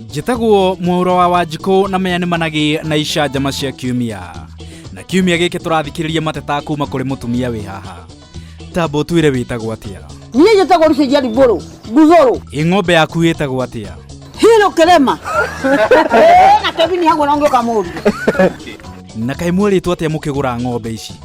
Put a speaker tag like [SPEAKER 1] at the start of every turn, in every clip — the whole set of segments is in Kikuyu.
[SPEAKER 1] njĩtagwo mwaũro wa wanjikũ na maya nĩ managĩ na icanjama cia kiumia na kiumia gĩkĩ tũrathikĩrĩria mateta kuma kũrĩ mũtumia wĩ haha tambo twĩre wĩtagwo atĩa niä njä tagwo rucenjia rimbå rå nguthå rå ĩ ng'ombe yaku ĩtagwo atĩa hirå kä rema na kebini hagwo no ngä å kamå rire na kaĩ mwerĩtwo atĩa mũkĩgũra ng'ombe ici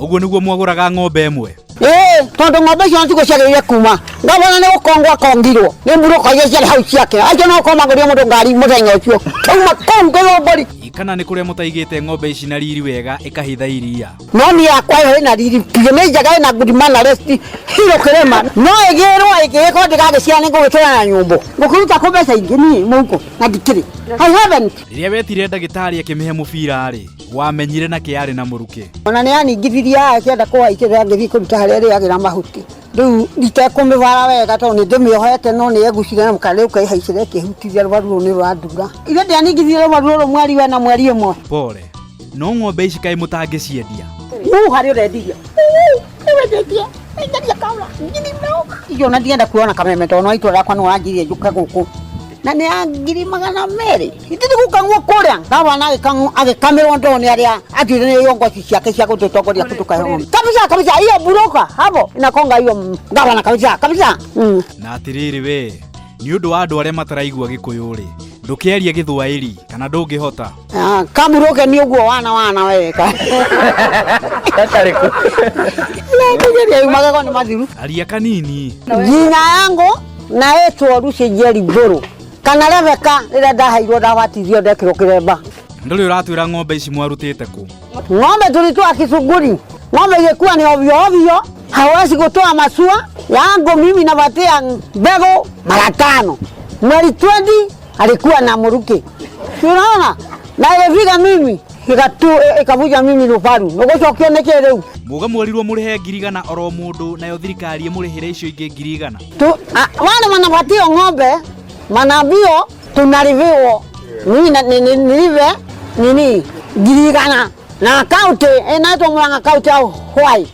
[SPEAKER 1] Ũguo nĩguo mwagũraga ng'ombe ĩmwe? Ee, tondũ ng'ombe icio nĩtiguo ciagĩrĩire kuma ngavana nĩ gũkongwo akongirwo nĩ mburũka iria ciarĩ hau ciake acio no gũkorwo magũrire mũndũ ngari mũthenya ũcio kauma kũu ngĩrwo mbũri Kana nĩ kũrĩa mũtaigĩte ng'ombe ici na riri wega ĩkahitha iria? no niĩ yakwa ĩyo ĩna riri biũ nĩ njega ĩna good manners hiro kĩrĩma no ĩgĩrwo ĩngĩgĩkorwo ndĩgagĩciara nĩ ngũgĩkĩra na nyũmbũ ngũkĩruta kũ mbeca ingĩ niĩ mũhuko na ndikĩrĩ I haven't Rĩrĩa wetire ndagĩtarĩ akĩmĩhe mũbira-rĩ, wamenyire na kä arä na må rukä ona nä aningithirie akĩenda kũhaikĩrĩra ngĩthiĩ kũruta harĩa ĩrĩagĩra mahuti rĩu itekũmĩbara wega tondũ nĩ ndĩmĩohete no nĩ egucire na mũkana rĩu kaihaicĩra ĩkĩhutithia rũbaru rũu nĩ rwandura ithe ndianingithirie rũbaru rũrũ mweri wena mweri ĩmwe pore no ng'ombe ici kaä må tangä ciendia Huu harĩ ũrendiria nĩwendetie enderia kaũra ngiri mĩrongo icio na ndienda kuona kameme tondũ no itũra rĩakwa nĩ wanjirie njũke gũkũ na nä ya ngiri magana merä itä nä gå kangwo kå rä a gabana agä kamä rwo ndoo nä arä a atuire nä yo ngoci ciake cia gå tå tongoria kå tå kahoma kabisa kabisa iyo buroka habo inakonga iyo gabana kabisa kabisa mm. na atĩrĩrĩ we nĩ ũndũ wa andũ arĩa mataraigua gĩkũyũ-rĩ ndũkĩarie gĩthwaĩri kana ndũngĩhota Ah, kamuroke ni uguo wana wana weka Tatari ku. nakugeria magego ni mathiru aria kanini jina yangu naitwo ruci njeri ngũrũ kana rebeka rĩrĩa ndaheirwo ndabatithio ndekĩrwo kĩremba ndũrĩ ũratwĩra ng'ombe ici mwarutĩte kũ ng'ombe tulitoa kisuguri ng'ombe ingekuwa ni ovyo ovyo hawezi kutoa masua yangu mimi napatia mbegu mara tano mweri 20 alikuwa na mruki, unaona na ĩgĩbika mimi ikatu ikabuja mimi nubaru nũgũcokio nĩ kĩrĩu muga mwerirwo mũrĩhe ngiri igana oro mũndũ nayo thirikari ĩmũrĩhĩre icio ingĩ ngiri igana tu a- wale wanapatia ng'ombe manabio tunaliviwa mimi na- ni- ni- nilive nini ngiri igana na akaunti inaitwa murang'a akaunti au hwai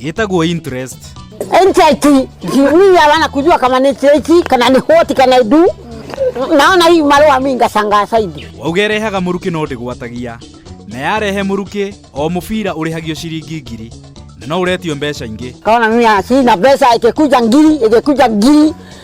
[SPEAKER 1] yetagwo interest Interest mimi hawana kujua kama ni cheti kana ni hoti kana idu. Naona hii marua mimi ngasanga saidi. wauga ĩrehaga mũrukĩ no ndĩgwatagia na yarehe mũrukĩ o mũbira ũrĩhagio ciringi ngiri na no ũretio mbeca ingĩ Kaona mimi sina pesa ikikuja ngiri ikikuja ngiri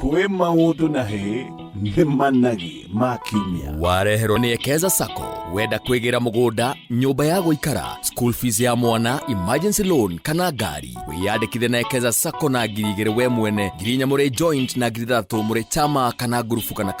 [SPEAKER 1] Kwĩ maũndũ na hĩ nĩ managi ma kiumia. Wareherwo nĩ Ekeza Sacco. Wenda kwĩgĩra mũgũnda, nyũmba ya gũikara, school fees ya mwana, emergency loan kana ngari. Wĩyandĩkithe na Ekeza Sacco na ngiri igĩrĩ we mwene, ngiri inya mũrĩ joint na ngiri ithathatũ mũrĩ chama kana ngurubu kana kambuni.